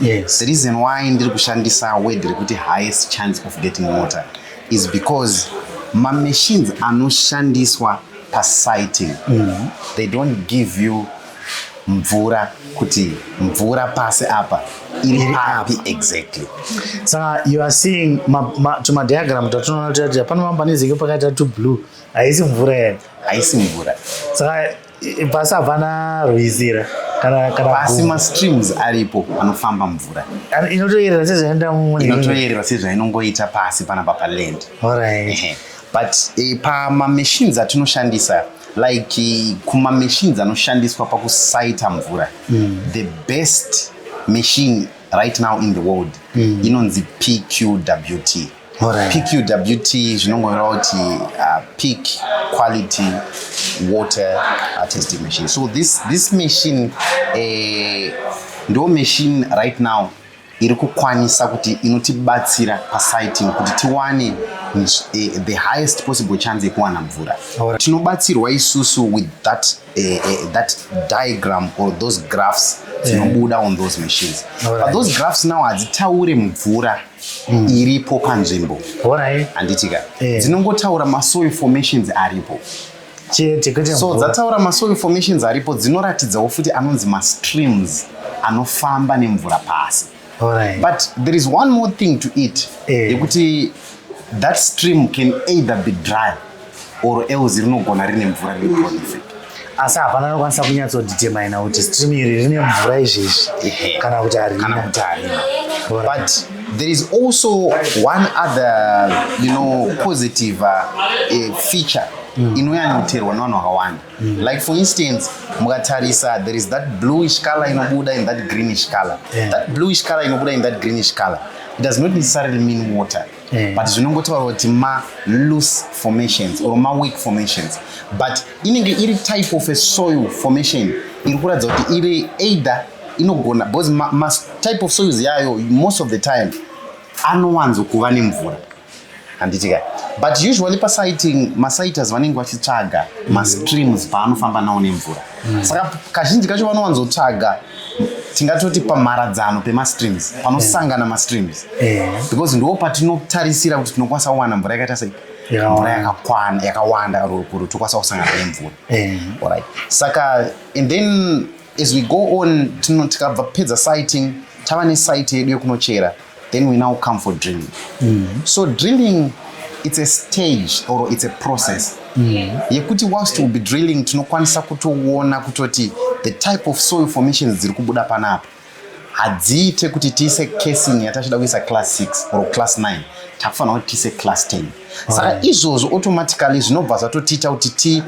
Yes. The reason why ndiri kushandisa word rekuti highest chance of getting water is because mamachines anoshandiswa pasiting mm -hmm. they don't give you mvura kuti mvura pasi apa iri papi exactly saka you are seeing tumadiagram tatinoona kuti hapana mambanizike pakaita tublue haisi mvura here haisi mvura saka pasi hapana rwizi ra pasi mastreams aripo anofamba mvura inotoyerera sezvaenda inotoyerera sezvainongoita pasi panapa paland right. but e, pamamachines atinoshandisa like eh, kumamachines anoshandiswa pakusaita mvura mm. the best machine right now in the world mm. inonzi pqwt PQWT zvinongoreva kuti uh, peak quality water uh, testing machine. So this, this machine eh, ndo machine right now iri kukwanisa kuti inotibatsira pasiting kuti tiwane eh, the highest possible chance yekuwana mvura tinobatsirwa isusu with that, uh, uh, that diagram or those graphs dzinobuda yeah. on those machines right. but those graphs now hadzitaure mvura mm. iripo panzvimbo handiti ka eh. dzinongotaura masoil formations aripo so dzataura masoil formations aripo dzinoratidzawo futi anonzi mastreams anofamba nemvura pasi Alright. but there is one more thing to it eh. yekuti that stream can either be dry or else rinogona rine mvura riri prolific asi hapana anokwanisa kunyatsodetermina kuti stream iri rine mvura izvezvi kana kuti harina kuti harina but there is also one other you know positive uh, uh, feature mm. inoyanyoterwa nevanhu vakawanda mm. like for instance mukatarisa there is that bluish color inobuda in that greenish color yeah. that bluish color inobuda in that greenish color it does not necessarily mean water mm. but zvinongotaura kuti ma loose formations or ma weak formations but inenge iri type of a soil formation iri kuratidza kuti iri either inogona because ma, ma type of soils yayo most of the time anowanzo kuva nemvura handiti kai but usually pasiting masites vanenge vachitsvaga mastreams paanofamba nawo nemvura mm. saka kazhinji kacho vanowanzotsvaga tingatoti pamharadzano pemastreams panosangana mastreams eh. because ndo patinotarisira kuti tinokwanisa kuwana mvura yakaita sei mvura yakakwana yakawanda kuti tokwanisa kusangana nemvura eh. right saka and then as we go on tikabva pedza sighting tava nesite yedu yekunochera then we now come for drilling mm. so drilling it's a stage or it's a process mm. yekuti whilst we'll be drilling tinokwanisa kutoona kutoti the type of soil formations dziri kubuda panapa hadziite kuti tiise casing yatachida kuisa class 6 or class 9 takufanira kuti tiise class 10 saka izvozvo automatically zvinobva zvatotiita kuti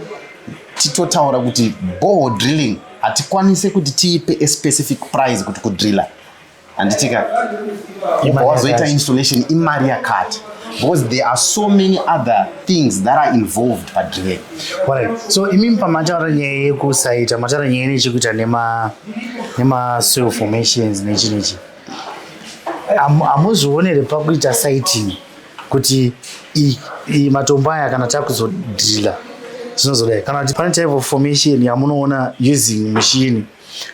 titotaura kuti boho drilling hatikwanise kuti tiipe a specific price kuti kudriller handitika ibva wazoita installation imari yakati because there are so many other things that are involved padrive right. so imimi pamataura nyaya yekusaita mataura nyaya nechekuita nemasoil formations nechi nechi hamuzvionere pakuita siting kuti matombo aya kana takuzodrila zvinozodai kana kuti pane type of formation yamunoona using machine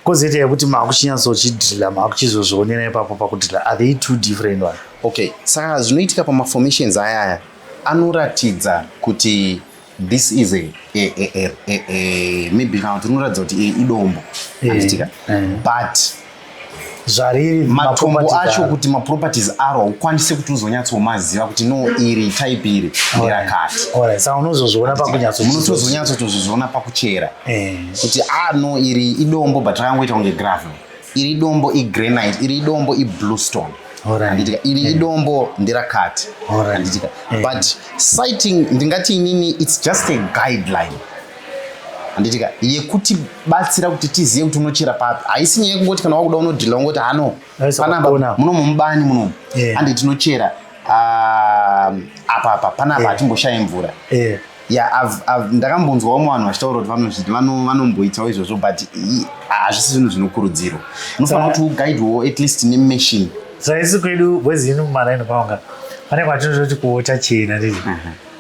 Kozoita yekuti makuchinyatsochidrila makuchizozvionera ipapo pakudrila are they two different one? Okay, saka zvinoitika pamaformations aya aya anoratidza kuti this is a, a, a, a, a, a maybe kana kuti unoratidza kuti idombo eh, anoitika eh. but zvariri matombo acho kuti maproperties aro ukwanise kuti uzonyatsomaziva kuti no iri type iri nderakati saka unozozviona pakunyatsomunotozonyatsotozozviona pakuchera eh. kuti a ah, no iri idombo but rakangoita kunge gravel iri idombo igranite iri idombo iblue stone anditika iri eh. idombo nderakati anditika eh. but sighting ndingati inini its just a guideline handitika yekuti batsira kuti tizive kuti unochera papi haisi nyaya yekungoti kana wakuda unodhila ungoti hano panapa munomu mubani munomu handi tinochera ah, apa apa panapa hatimboshaye mvura ya ndakambonzwa vamwe vanhu vachitaura kuti vanozviti vanomboitawo izvozvo but hazvisi zvinhu zvinokurudzirwa unofanira kuti ugaidwewo at least nemachine saisi kwedu bwezi ino mumaraini kwavanga pane kwatinototi kuota chena ndii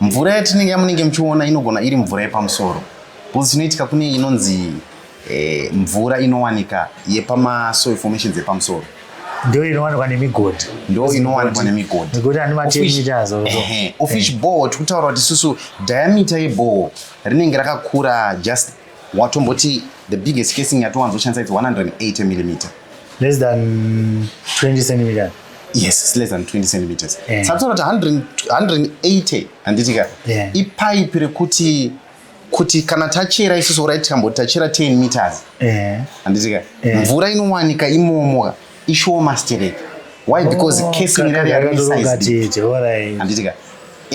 Mvura yatinenge yamunenge muchiona inogona iri mvura yepamusoro because chinoitika kune inonzi eh, mvura inowanika yepamasoil formations epamusoro ndo inowanikwa nemigodhi ndo inowanikwa nemigodhi nekuti ane matemitazo ofish eh. ball tikutaura kuti isusu diameter yeball rinenge rakakura just watomboti the biggest casing yatowanzoshandisa its 180 millimeter less than 20 centimeter yes it's less than 20 centimeters yeah. sationa kuti 180 handiti ka yeah. ipaipi rekuti kuti kana tachera isusu orit tikamboti tachera 10 meters handiti yeah. ka yeah. mvura inowanika imomoka ishoma sterek why because oh, casing iri rari yarisized handitika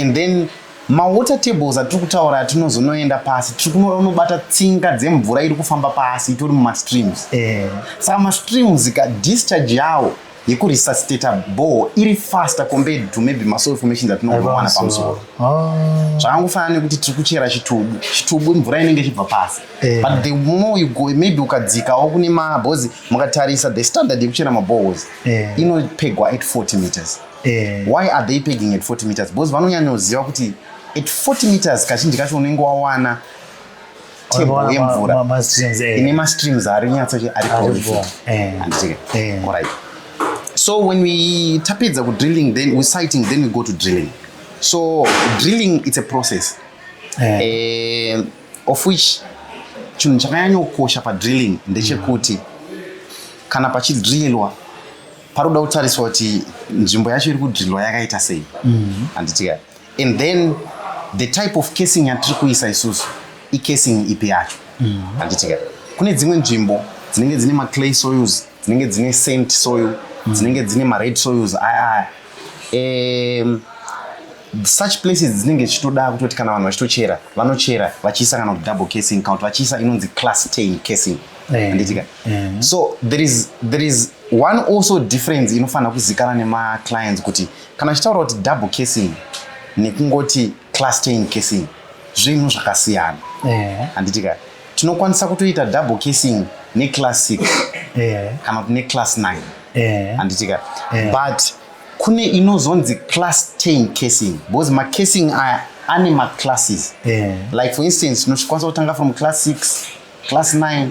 and then mawater tables atiri kutaura atinozonoenda pasi tiri kunora unobata tsinga dzemvura iri kufamba pasi itori mumastreams eh. saka mastreams ka discharge yawo yekuresuscitata ball iri faster compared to maybe masoil formations atinogowana pamusoro ah. zvakangofanana nekuti tiri kuchera chitubu chitubu mvura inenge ichibva pasi Eh. But the more you go, maybe ukadzikawo kune mabhozi mukatarisa the standard yekuchera mabohozi eh. inopegwa at 40 meters. Eh. Why are they pegging at 40 meters? Because vanonyanyoziva kuti at 40 meters kazhinji kacho unenge wawana table yemvura eh. ine mastreams ari nyatso ari prolific. Eh. Eh. All right. So when we tapedza ku drilling then we sighting then we go to drilling. So drilling it's a process. Eh. Eh, of which chinhu chakanyanyokosha padrilling ndechekuti kana pachidrillwa paroda kutariswa kuti nzvimbo yacho iri kudrillwa yakaita sei mm-hmm. handitika and then the type of casing yatiri kuisa isusu icasing ipi yacho mm-hmm. handitika kune dzimwe nzvimbo dzinenge dzine maclay soils dzinenge dzine saint soil mm-hmm. dzinenge dzine mared soils aya aya um, such places dzinenge dzichitoda kutoti kana vanhu vachitochera vanochera vachiisa kana kuti double casing kana kuti vachiisa inonzi class tain casing eh, handitika eh. so there is, there is one also difference inofanira kuzikana nemaclients kuti kana achitaura kuti double casing nekungoti class tain casing zvinhu zvakasiyana eh. handitika tinokwanisa kutoita double casing neclass six kana kuti neclass nine handitika but kune inozonzi class chain casing because macasing aya ane maclasses yeah. like for instance tinokwanisa kutanga from class 6 class 9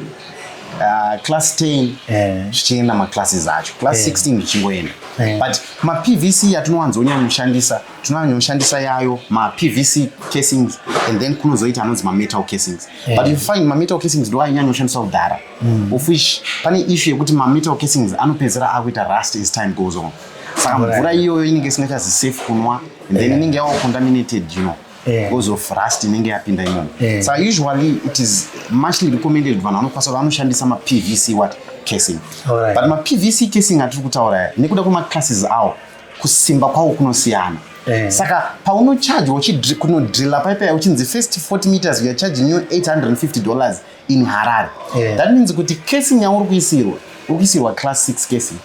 uh, class 10 yeah. zvichienda maclasses acho class yeah. 16 zvichingoenda yeah. but mapvc yatinowanzonyanya kushandisa tinonyanya kushandisa yayo mapvc casings and then kunozoita anonzi mametal casings yeah. but you find mametal casings ndo ainyanya kushandisa kudhara mm. of which pane issue yekuti mametal casings anopedzera akuita rust as time goes on saka mvura iyoyo inenge isingachazi safe kunwa and then inenge yeah. yava contaminated you know yeah. because of rust inenge yapinda imomo yeah. so usually it is muchly recommended vanhu vanokwanisa vanoshandisa mapvc what casing right. but mapvc casing atiri kutaura nekuda kwemaclasses awo kusimba kwawo kunosiyana Eh. saka paunocharge kunodrilla paipa uchinzi first 40 meters youare charging you 850 dollars in Harare. Yeah. That means kuti casing yauri kuisirwa, uri kuisirwa class 6 casing.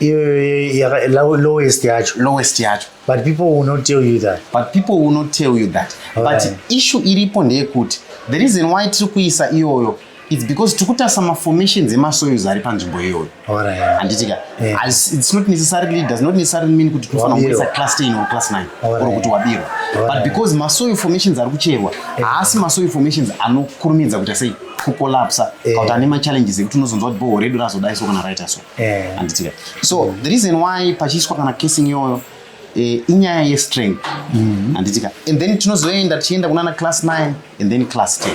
Yeah, lowest yacho. Lowest yacho. But people will not tell you that. But people will not tell you that. All But right. issue iripo ndeyekuti the reason why tiri kuisa iyoyo it's because tiri kutarisa maformations emasoils ari panzvimbo iyoyo. handitika it's not necessarily does not necessarily mean kuti tinofanira kuburitsa class 10 or class 9 or kuti wabirwa but because masoil formations ari kucherwa haasi masoil formations anokurumidza kuita sei kucollapsa eh. kauti ane machallenges ekuti unozonzwa kuti boho redu razodai so kana raita so eh. handitika so mm. the reason why pachiiswa kana casing iyoyo eh, inyaya yestrength mm-hmm. handitika and then tinozoenda tichienda kunana class 9 and then class 10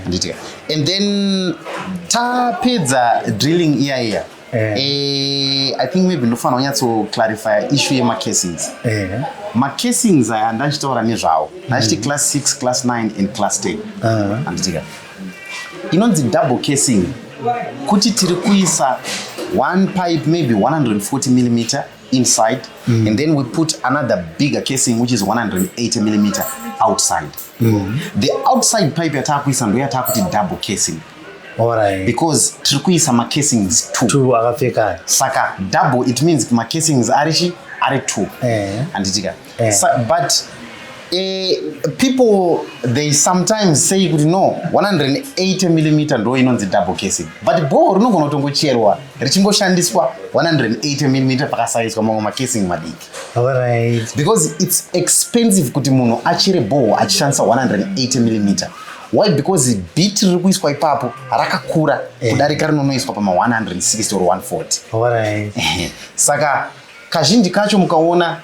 nditika and then tapedza drilling iya iya eh. Eh, i think maybe ndofanira kunyatsoclarifya issue yemacasings eh. macasings aya ndachitaura nezvawo ndachiti mm. class 6 class 9 and class 10 uh-huh. anditika inonzi double casing kuti tiri kuisa one pipe maybe 140 millimeter inside mm. and then we put another bigger casing which is 180 millimeter outside mm. the outside pipe yataakuisa ndo yataakuti double casing Alright. because tiri kuisa macasings two akapfekana saka double it means macasings ari chi ari two eh. handitika eh. so, but uh, people they sometimes say kuti no 180 millimeter ndo inonzi double casing but bhoo rinogona kutongocherwa richingoshandiswa 180 millimeter pakasaiswa mamwe macasing madiki right. because it's expensive kuti munhu achere bhoo achishandisa 180 millimeter why because bit riri kuiswa ipapo rakakura eh. kudarika rinonoiswa pama 160 or 140 right. saka kazhinji kacho mukaona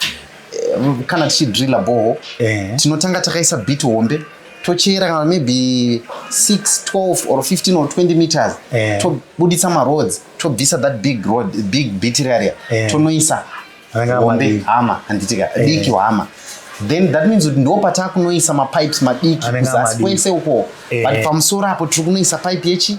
eh, kana tichidrilla boho eh. tinotanga takaisa bit hombe tochera kana maybe 6 12 or 15 or 20 meters eh. tobuditsa maroads tobvisa that big road big bit area eh. tonoisa hombe hama handitika eh. diki hama then that means kuti ndopataakunoisa mapipes madiki kuzasi kwese uko eh. but pamusoro apo tiri kunoisa pipe yechi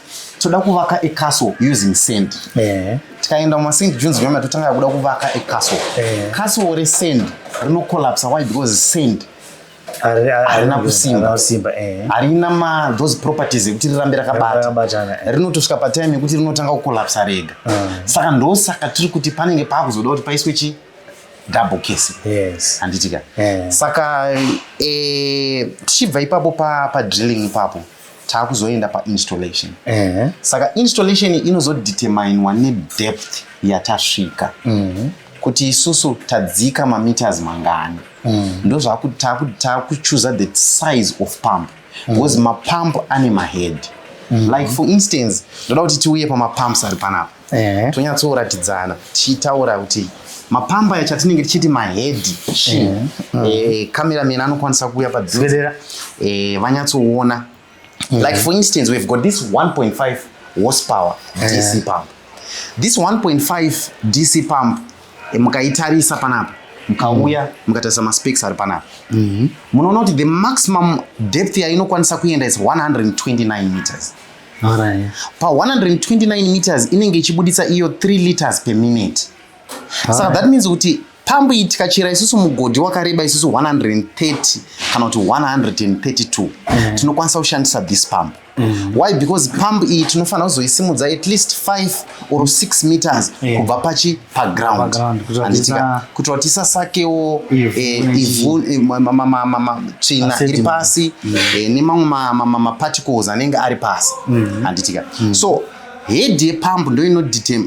toda kuvaka a castle using sand eh. tikaenda muma st jones vema totanga kuda kuvaka a castle eh. castle resand rinocollapsa why because sand harina kusimba eh. harina ma those properties ekuti rirambe rakabatana eh. rinotosvika patime yekuti rinotanga kucollapsa rega ah. saka ndosaka tiri kuti panenge paakuzoda kuti paiswe chi double case yes. handitika yeah. saka eh, tichibva ipapo padrilling pa ipapo taakuzoenda painstallation eh. saka installation inozodeterminwa nedepth yatasvika mm. kuti isusu tadzika mameters mangani mm. ndozvakutakuchuza the size of pump mm. because mapump ane mahead mm. like for instance ndoda kuti tiuye pamapumps ari panapa eh. tonyatsoratidzana tichitaura kuti mapamba yacho atinenge tichiti mahedhi shi eh. mm. eh, cameraman anokwanisa kuuya padzirera eh, vanyatsoona mm. like for instance we've got this 1.5 horsepower eh. dc pump this 1.5 dc pump eh, mukaitarisa panapa mukauya mukatarisa maspecs ari panapa mhm. munoona kuti the maximum depth yainokwanisa kuenda is 129 meters Alright. pa 129 meters inenge ichibuditsa iyo 3 liters per minute saka that means kuti pambu iyi tikachera isusu mugodhi wakareba isusu 130 kana kuti 132 mm. tinokwanisa kushandisa this pump mm. why because pump iyi tinofanira kuzoisimudza at least 5 or 6 meters yeah. kubva pachi paground handitika kuti vatisasakewo ivhu tsvina iri pasi mm. eh, nemamwe maparticles anenge ari pasi mm-hmm. handitika mm. so head yepamp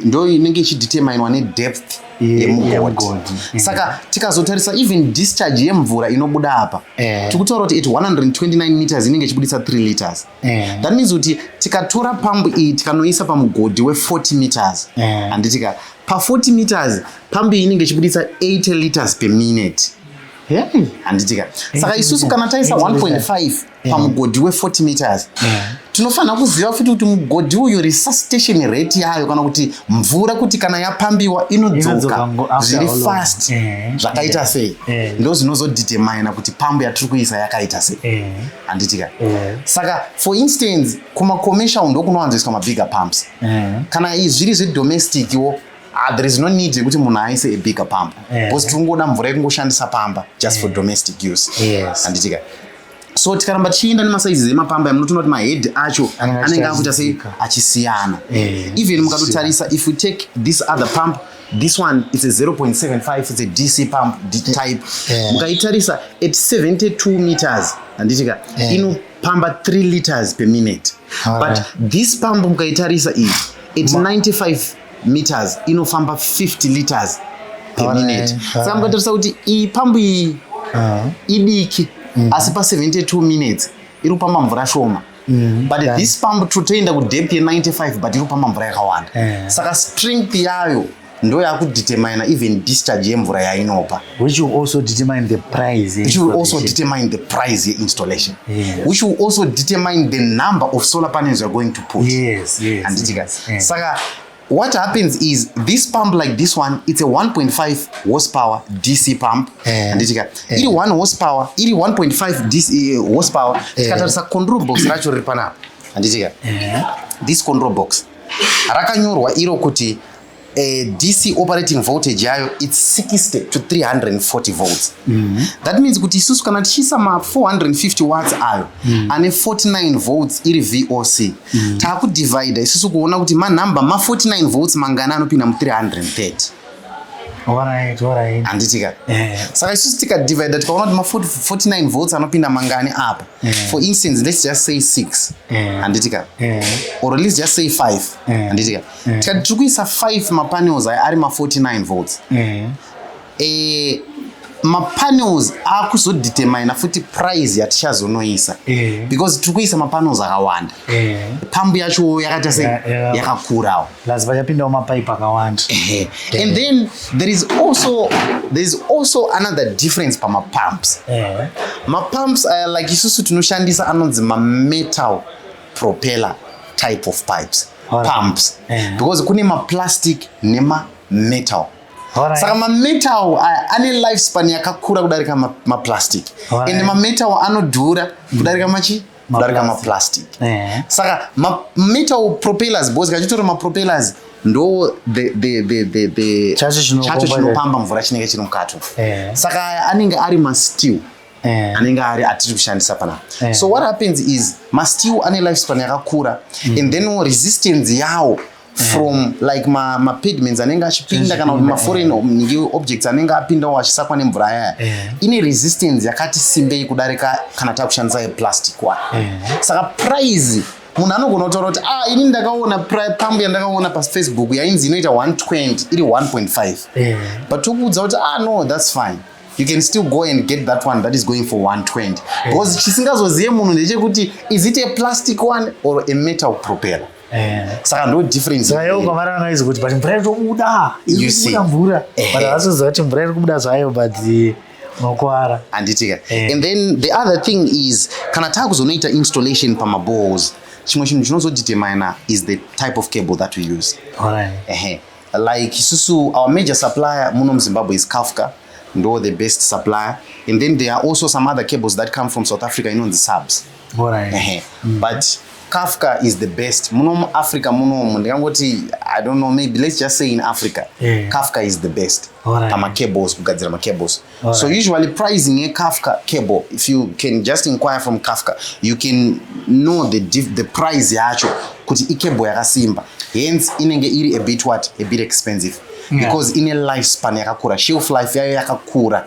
ndo inenge ichideterminwa nedepth yemugodhi mm. saka tikazotarisa even discharge yemvura inobuda apa eh. tikutaura kuti at 129 meters inenge ichibudisa 3 liters Yeah. That means kuti tikatora pambu iyi tikanoisa pamugodhi we 40 meters yeah. handitika pa 40 meters pambu iyi inenge ichibuditsa 80 liters per minute yeah. handitika saka isusu kana taisa 1.5 yeah. pamugodhi we 40 meters yeah tinofanira kuziva futi kuti mugodhi uyu resuscitation rate yayo kana kuti mvura kuti kana yapambiwa inodzoka zviri fast eh, eh, zvakaita eh, sei ndo zvinozodetermina kuti pambo yatiri kuisa yakaita sei handiti ka eh. saka for instance kumacommercial ndokunowanzoiswa mabigger pumps eh. kana zviri zvedomestic wo ah, there is no need yekuti munhu aise abigger pump eh. because tiri kungoda mvura yekungoshandisa pamba just for domestic use handiti ka so tikaramba tichienda nemasaizi emapamba munotoona kuti mahead acho anenge akuita sei achisiyana even mukatotarisa if we take this other pump this one it's a 0.75 it's a dc pump type yeah. mukaitarisa at 72 meters handitika yeah. inopamba 3 liters per minute All but right. this pump mukaitarisa iyi at Ma 95 meters inofamba 50 liters per All minute right. saka right. mukatarisa kuti iyi pambu iyi uh -huh. idiki mm -hmm. asi pa 72 minutes iri kupamba mvura shoma Mm, but this pump totoenda kudepth ye95 but iri kupamba mvura yakawanda yeah. saka strength yayo ndo yakudetermina even discharge yemvura yainopa which will also determine the price which will also determine the price yeinstallation yes. which will also determine the number of solar panels youare going to put yes, yes, handitika yes, yes. saka What happens is this pump like this one it's a 1.5 horsepower DC pump eh. anditika eh. iri 1 horsepower iri 1.5 DC eh, horsepower eh. tikatarisa control box racho riri panapa anditika eh. this control box rakanyorwa iro kuti eh, DC operating voltage yayo it's 60 to 340 volts mm -hmm. that means kuti isusu kana tichiisa ma 450 watts ayo mm -hmm. ane 49 volts iri VOC mm. taakudivhaidha isusu kuona kuti manhamba ma49 votes mangana anopinda mu330 handitika eh. saka isusu tikadivhaidha tikaona kuti ma49 votes anopinda mangani apa eh. for instance let's just say 6 eh. handitika or let's just say 5 handitika tikati tiri kuisa 5 mapanels aya ari ma49 votes eh, mapanels akuzodetermina futi price yatichazonoisa eh. because tiri kuisa mapanels akawanda eh. pambu yacho yakaita se yakakurawo plus vachapindawo mapipe akawanda eh. and then there is also there is also another difference pamapumps mapumps aya like isusu tinoshandisa anonzi mametal propeller type of pipes pumps because kune maplastic nemametal Alright. Saka mametal aya ane life span yakakura kudarika maplastic ma and mametal anodhura kudarika machi kudarika maplastic ma yeah. saka mametal ma propellers bos kachitori mapropellers ndo chacho chinopamba mvura chinenge chiri mukato yeah. saka aya anenge ari masteel yeah. anenge ari atiri kushandisa panapa yeah. so what happens is masteel ane life span yakakura mm. and then resistance yawo from mm. like ma, ma pigments anenge achipinda kana kuti maforeign mm. objects anenge apindawo achisakwa nemvura yaya mm. Eh. ine resistance yakati simbei kudarika kana takushandisa yeplastic wa mm. saka price munhu anogona kutaura kuti ah ini ndakaona pambu yandakaona pafacebook yainzi inoita 120 iri 1.5 mm. but tokuudza kuti ah no thats fine you can still go and get that one that is going for 120 because chisingazozive munhu ndechekuti is it a plastic one or a metal propeller Eh. saka ndo difference zvayo ukavara vangaizi kuti but mvura itobuda ikubuda mvura but havasoziva kuti mvura iri kubuda zvayo but unokuwara handitika eh. and then the other thing is kana taakuzonoita installation pamabows chimwe chinhu chinozodetermina is the type of cable that we use right. like isusu our major supplier muno muzimbabwe is kafka ndo the best supplier and then there are also some other cables that come from south africa inonzi subs Alright. Mm. But Kafka is the best. Muno mu Africa muno mu ndikangoti I don't know maybe let's just say in Africa. Yeah. Kafka is the best. Alright. Pama cables kugadzira ma cables. Alright. So usually pricing ye Kafka cable if you can just inquire from Kafka you can know the diff, the price yacho kuti i cable yakasimba. Hence inenge iri a bit what a bit expensive. Yeah. Because ine lifespan yakakura. Shelf life yayo yakakura.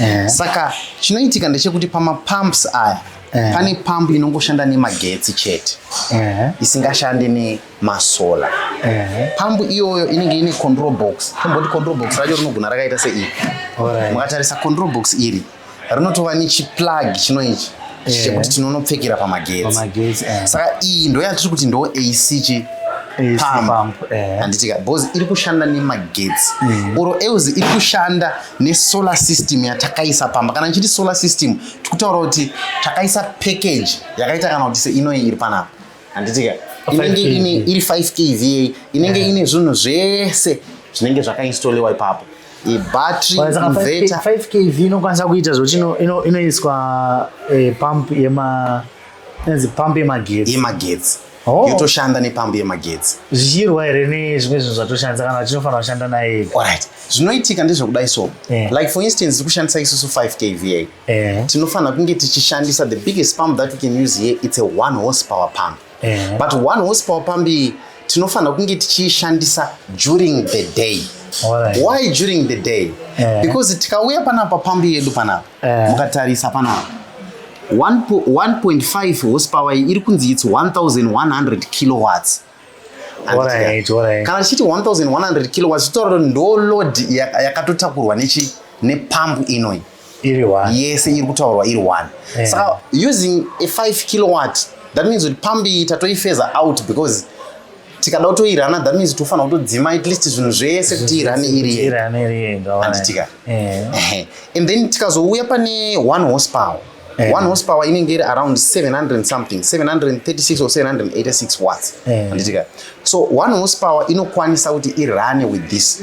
yeah. saka chinoitika ndechekuti pamapumps aya yeah. pane pambu inongoshanda nemagetsi chete yeah. isingashande nemasola yeah. pambu iyoyo inenge ine control box tomboti control box racho rinogona rakaita seiri right. mukatarisa control box iri rinotova nechiplug chino ichi yeah. chekuti tinonopfekera pamagetsi yeah. saka iyi ndo yatiri kuti ndo ac chi pambu eh. handitika bcause iri kushanda nemagetsi mm. oro else iri kushanda nesolar system yatakaisa pamba kana ndichiti solar system tikutaura kuti takaisa package yakaita kana kuti seinoyi iri panapa handitika inenge ine iri 5 kva inenge ine zvinhu zvese zvinenge zvakainstoliwa ipapo ibattery inverter 5 kv inokwanisa kuita zvoti inoiswa eh, pump yema pump yemagetsi yemagetsi oh. yotoshanda nepambu yemagetsi zvichirwa here nezvimwe zvinhu zvatoshandisa kana vachinofanira kushanda naye right zvinoitika ndezvekudai so yeah. like for instance kushandisa isusu 5 kva yeah. Eh. tinofanira kunge tichishandisa the biggest pump that we can use here it's a one horse power pump yeah. but one horse power pump iyi tinofanira kunge tichiishandisa during the day right. why during the day yeah. because tikauya panapa pambi yedu panapa eh. mukatarisa panapa 1.5 horsepower iri kunzi its 1100 kilowatts kana tichiti 1100 kilowatts titaura ndo load yakatotakurwa nechi nepambu inoi iri one yese iri kutaurwa iri one yeah. saka using a 5 kilowatt that means kuti pambi tatoifeza out because tikada kutoirana that means tofanira kutodzima at least zvinhu zvese kuti irane irianditika eh. and then tikazouya pane one horsepower Yeah. one horsepower inenge iri around 700 something 736 or 786 watts yeah. anditika so one horsepower inokwanisa kuti irane with this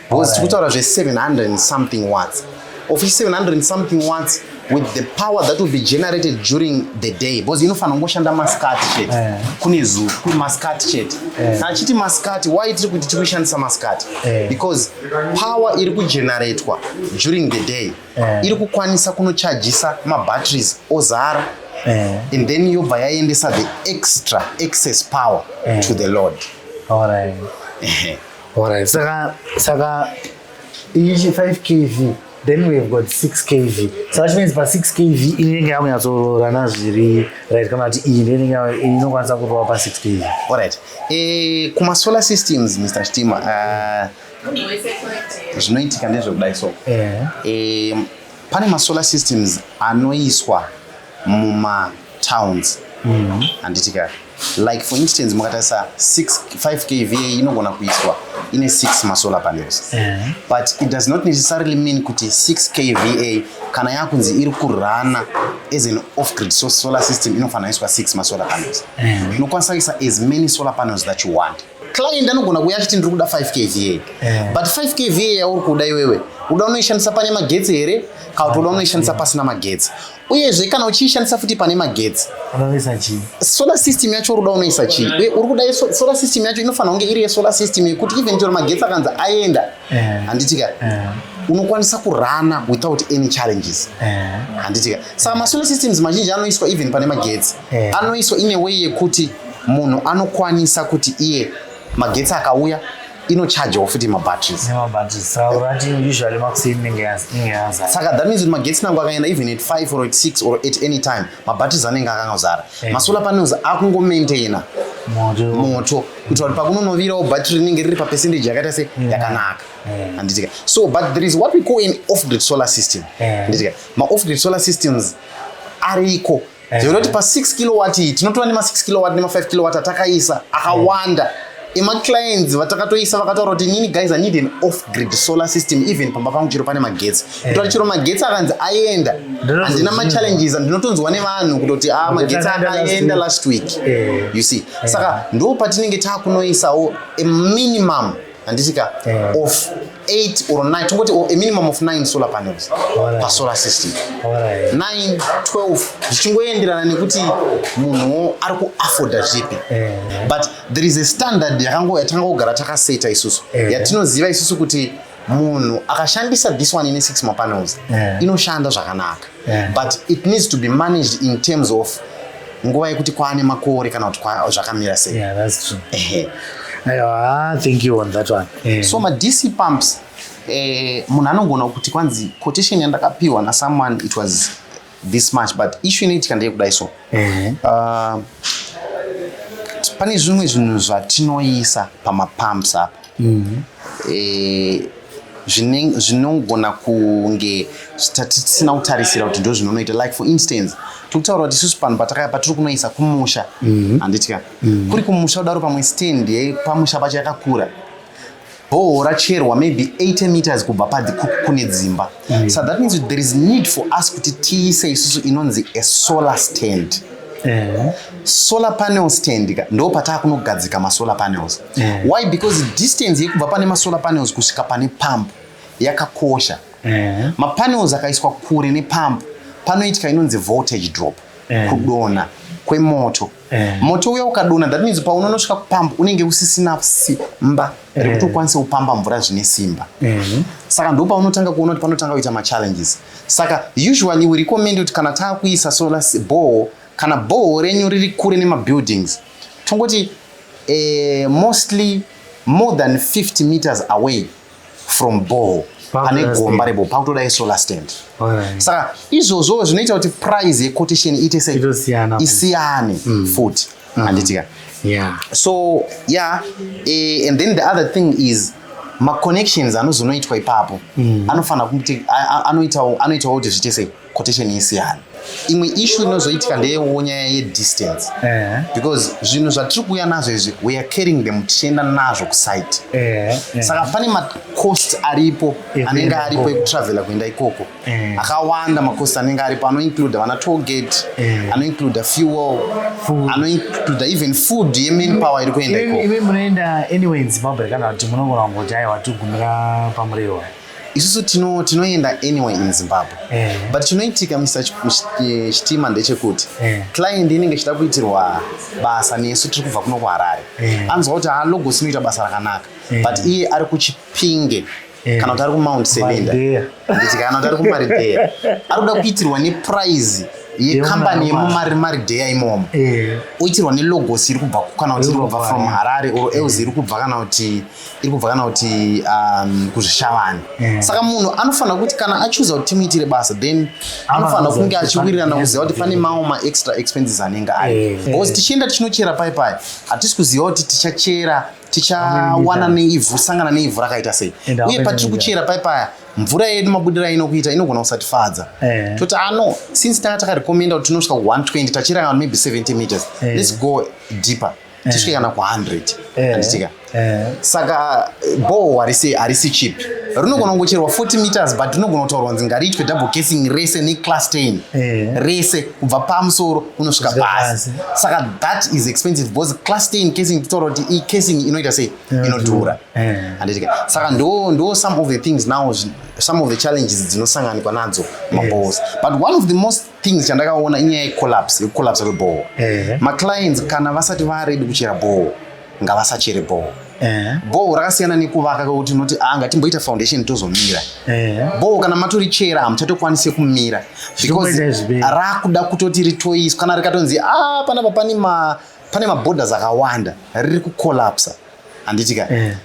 because tikutaura zve700 something watts of 700 something watts with the power that will be generated during the day because inofanira kungoshanda masikati chete eh. kune zuva kune masikati chete eh. kana chiti masikati why tiri kuti tiri kushandisa masikati eh. because power iri kugeneratwa during the day iri kukwanisa kunochajisa mabatteries ozara and then yobva yaendesa the extra excess power to the load All right. Alright, saka saka ichi 5 kv then we have got 6 kv so that means pa 6 kv inenge yakunyatsororana zviri right kana kuti iyi ndeinenge inokwanisa kurova pa 6 kv alright eh, kuma solar systems mr stima uh, zvinoitika ndezvekudai so eh. Eh, pane masolar systems anoiswa muma towns mm-hmm. handiti ka like for instance mukatarisa 5 kva inogona kuiswa ine 6 masolar panels eh. but it does not necessarily mean kuti 6 kva kana yakunzi iri kurana as an off grid so solar system inofanira iswa 6 masolar panels eh. unokwanisa kuisa as many solar panels that you want client anogona kuuya achiti ndiri kuda 5 kva yeah. but 5 kva yauri kuda iwewe uda unoishandisa pane magetsi here kana kuti uda unoishandisa pasina magetsi uyezve kana uchiishandisa futi pane magetsi solar system yacho uruda unoisa chii uye uri kuda solar system yacho inofanira kunge iri yesolar system yekuti even chero magetsi akanzi aenda Eh. handiti ka eh. unokwanisa kurana without any challenges eh. handiti ka saka masolar systems mazhinji anoiswa even pane magetsi anoiswa ine way yekuti munhu anokwanisa kuti iye magetsi akauya inochargewa futi mabatteries saka that means kuti magetsi nangu akaenda even at 5 or at 6 or at any time mabatteries anenge akangozara masolar panels akungomaintaina moto kuitira kuti pakunonovirawo battery rinenge riri papercentage yakaita se mm. yakanaka mm. handitika so but there is what we call an off grid solar system mm. handitika maoff grid solar systems ariko zvekunoti pa6 kilowatt iyi tinotora nema6 kilowatt nema5 kilowatt atakaisa akawanda emaclients vatakatoisa vakataura kuti inini guys i need an off grid solar system even pamba pangu chero pane magetsi kutora chero magetsi akanzi aenda handina machallenges ndinotonzwa nevanhu kutoti a ah, magetsi akaenda last week eh. you see eh. saka ndo patinenge takunoisawo a minimum handiti ka eh. of 8 or 9 tongoti a minimum of 9 solar panels pasolar system 9 12 zvichingoenderana nekuti munhu ari kuafforda zvipi but there is a standard yatanga kugara takaseta isusu yatinoziva isusu kuti munhu akashandisa this one ine six mapanels yeah. inoshanda zvakanaka yeah. but it needs to be managed in terms of nguva yekuti kwaane makore kana kuti zvakamira sei yeah, that's true. Ehe. Ah, thank you on that one yeah. so madc pumps eh, munhu anogona kuti kwanzi quotation yandakapiwa nasomeone it was this much but issue inoitika ndeyekudai so eh. uh, pane zvimwe zvinhu zvatinoisa pamapumps apa mhm. eh, zvinogona kunge tatisina kutarisira kuti ndo zvinonoita like for instance tikutaura kuti isusu panhu patakaya patiri kunoisa kumusha mhm. handiti ka mhm. kuri kumusha kudaro pamwe stand yepamusha pacho yakakura bhohoro racherwa maybe 80 meters kubva pa the cook kune dzimba mm. so that means there is need for us kuti tiise isusu inonzi a solar stand eh. solar panel stand ka ndo pataa kunogadzika masolar panels eh. why because distance yekubva pane masolar panels kusvika pane pump yakakosha eh. mapanels akaiswa kure nepump panoitika inonzi voltage drop eh. kudona kwemoto Eh. moto uya ukadona that means paunonosvika kupamba unenge usisina simba eh. rekuti ukwanise kupamba mvura zvine simba eh. saka ndo paunotanga kuona kuti panotanga kuita machallenges saka usually we recommend kuti kana taakuisa solar boho kana boho renyu riri kure nemabuildings tongoti eh, mostly more than 50 meters away from ball pane gomba rebo pakutoda yesolar stand saka izvozvo zvinoita kuti price yecotation iite sei isiyane mm. futi mm. handitika so yeah eh, and then the other thing is maconnections anozonoitwa ipapo mm. anofanira kuti anoitawo kuti zviite sei quotation isiyana imwe ishu inozoitika ndeyewo nyaya yedistance eh. because zvinhu zvatiri kuuya nazvo izvi weare carrying them tichienda nazvo kusite eh, eh. saka pane macost aripo anenge aripo ekutravela kuenda ikoko akawanda macost anenge aripo anoincluda vana togate anoincluda fuel anoincluda even food yemain power iri kuenda ikoko munoenda anyway in zimbabwe kana kuti munogona kungoti aiwa tigumira pamurehwa isusu tino tinoenda anyway in zimbabwe eh. but chinoitika misa eh, chitima ndechekuti eh. client inenge ichida kuitirwa basa nesu tiri kubva kuno kuharare eh. anzwa kuti halogosi inoita basa rakanaka eh. but iye ari kuchipinge eh. kana kuti ari kumount sevenda nditi kana kuti ari kumaridheya ari kuda kuitirwa neprize yekambani yemumarimaridheya imomo eh. oitirwa nelogosi iri kubva kana kuti iri kubva from harare or else iri kubva kana kuti eh. iri kubva kana kuti um, kuzvishavani mm. saka munhu anofanira kuti kana achuza kuti timuitire basa then anofanira kunge achiwirirana kuziva kuti pane mawo maextra expenses anenge ari eh. because tichienda tichinochera pai pai hatisi kuziva kuti tichachera tichawana neivhu sangana neivhu rakaita sei uye patiri kuchera pai paya mvura yedu mabudira inokuita inogona kusatifadza eh. toti ano ah, since tanga takarekomenda kuti tinosvika ku 120 tachiranga maybe 70 meters eh. let's go deeper eh. tisvike kana ku100 eh. anditika eh. saka boho harisi harisi chip rinogona kungocherwa 40 meters but rinogona kutaurwa kunzi ngariitwe double casing rese neclass ten rese kubva pamusoro unosvika pasi saka that is expensive because class ten casing titaura kuti icasing inoita sei inodhura anditika saka ndo ndo some of the things now some of the challenges dzinosanganikwa nadzo mabohos but one of the most things chandakaona inyaya yecollapse yekucollapse kwebhoho maclients kana vasati varedi kuchera bhoho ngavasachere bhoho Eh. bhoho rakasiyana nekuvaka kwekuti unoti ah, anga timboita foundation tozomira eh. bhoho kana matori chera hamuchatokwanise kumira because rakuda kutoti ritoiswa kana rikatonzi a ah, panapa pane maborders akawanda riri kucollapsa handiti ka eh.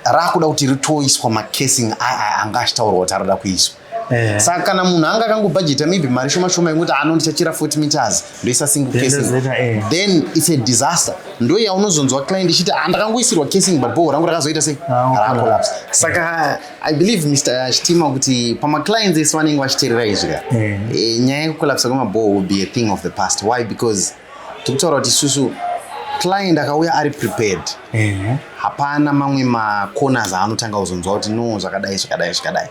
rakuda kuti ritoiswa macasing aya anga achitaurwa kuti aroda kuiswa eh. saka kana munhu anga akangobhajeta maybe mari shoma shoma yekuti ano ndichachira 40 meters ndoisa single casing eh. then it's a disaster ndo yaunozonzwa client ichiti andakangoisirwa ah, casing but boho rangu rakazoita sei ah, racollapse saka i believe mr chitima kuti pamaclients ese vanenge vachiterera izvi ka eh. nyaya yekucollapsa kwemaboho will be a thing of the past why because tikutaura kuti isusu client akauya ari prepared hapana mamwe macorners aanotanga kuzonzwa kuti no zvakadai zvakadai zvakadai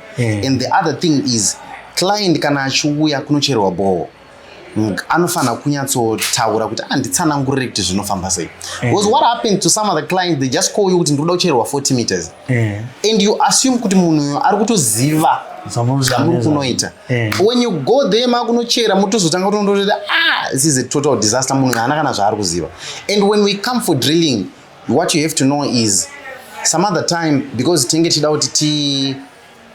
and the other thing is client kana achiuya kunocherwa bhoho anofanira kunyatsotaura kuti anditsanangurire ah, kuti zvinofamba sei eh. because what happened to some other clients they just call you kuti ndikuda kuchererwa 40 meters eh. and you assume kuti munhu uyo ari kutoziva zvamuri kunoita Eh. when you go there makunochera motozotanga kutondorera ah this is a total disaster munhu haana kana zvaari kuziva and when we come for drilling what you have to know is some other time because tinge tichida kuti ti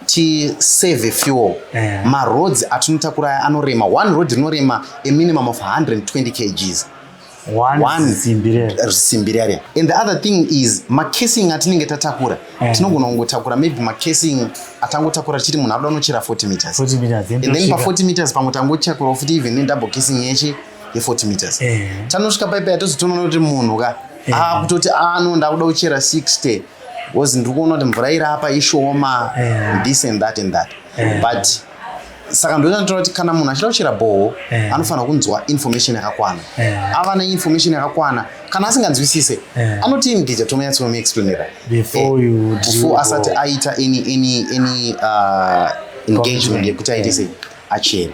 tisave fuel eh. maroads atinotakura anorema one road rinorema a minimum of 120 kgs one simbi riyariya and the other thing is macasing atinenge tatakura eh. tinogona kungotakura maybe macasing atangotakura chiri munhu abuda unochera 40 meters and then pa40 meters pamwe tangochakurawo futi even nedouble casing yeshe ye40 meters eh. tanosvika paipa yatozotonoona kuti munhu ka eh. akutoti ah, ano ah, ndakuda kuchera 60 bcause ndiri kuona kuti mvura iri apa ishoma this and that and that but saka ndozvandinotaura kuti kana munhu achida kuchera bhoho eh. anofanira kunzwa information yakakwana eh. ava neinformation yakakwana kana asinganzwisise eh. anoti imdija tomanyatsinomuexplainera before asati aita any, any, any uh, engagement yekuti aite sei achere